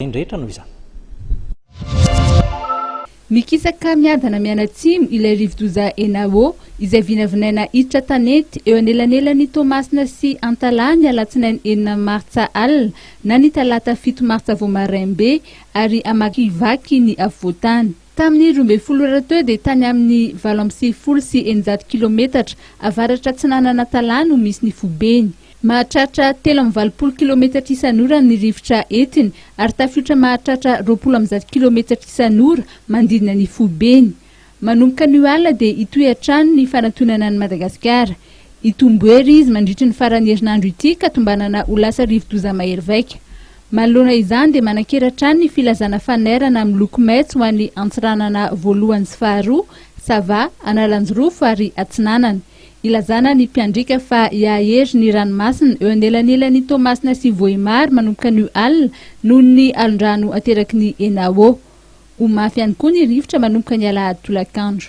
Ireny rehetra noho izany. Mikisaka miadana mianatsimo ilay rivodoza Enawo, izay vinavinaina hiditra tanety eo anelanelan'i Toamasina sy Antalaha ny alatsinainy enina martsa alina na ny talata fito martsa vao maraim-be ary hamakivaky ny afovoan-tany. Tamin'ny roa ambin'ny folo ora teo dia tany amin'ny valo amby sivifolo sy eninjato kilometatra avaratra-atsinanan'Antalaha no misy ny fobeny. Mahatratra telo amby valopolo kilometatra isan'ora ny rivotra entiny ary tafiotra mahatratra roapolo amby zato kilometatra isan'ora manodidina ny foibeny. Manomboka anio alina dia hitohy hatrany ny fanantonana an'i Madagasikara. Hitombohery izy mandritry ny faran'ny herinandro ity ka tombanana ho lasa rivodoza mahery vaika. Manoloana izany dia manan-kery hatrany ny filazana fanairana miloko maitso ho an'ny antsiranana voalohany sy faharoa, Sava, Analanjirofo ary Atsinanana. Ilazana ny mpiandriaka fa hiahery ny ranomasina eo anelanelan'i Toamasina sy Vohemar manomboka anio alina noho ny alondrano ateraky ny Enawo. Ho mafy ihany koa ny rivotra manomboka ny alahady tolakandro.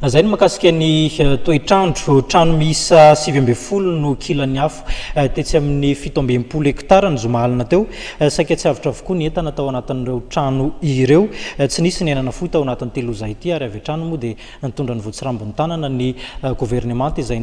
Zay ny makasika ny eh, toetr'andro. Trano miisa sivy ambin'ny folo no kilan'ny afo eh, tetsy amin'ny fito ambin'ny folo hektara ny zoma alina teo. Eh, saika tsy avotra avokoa ny entana tao anatin'ireo trano ireo. Tsy nisy ny aina nafoy tao anatin'ny telozay ity ary avy hatrany moa dia nitondra ny votsirambin'ny tanana ny governemanta izay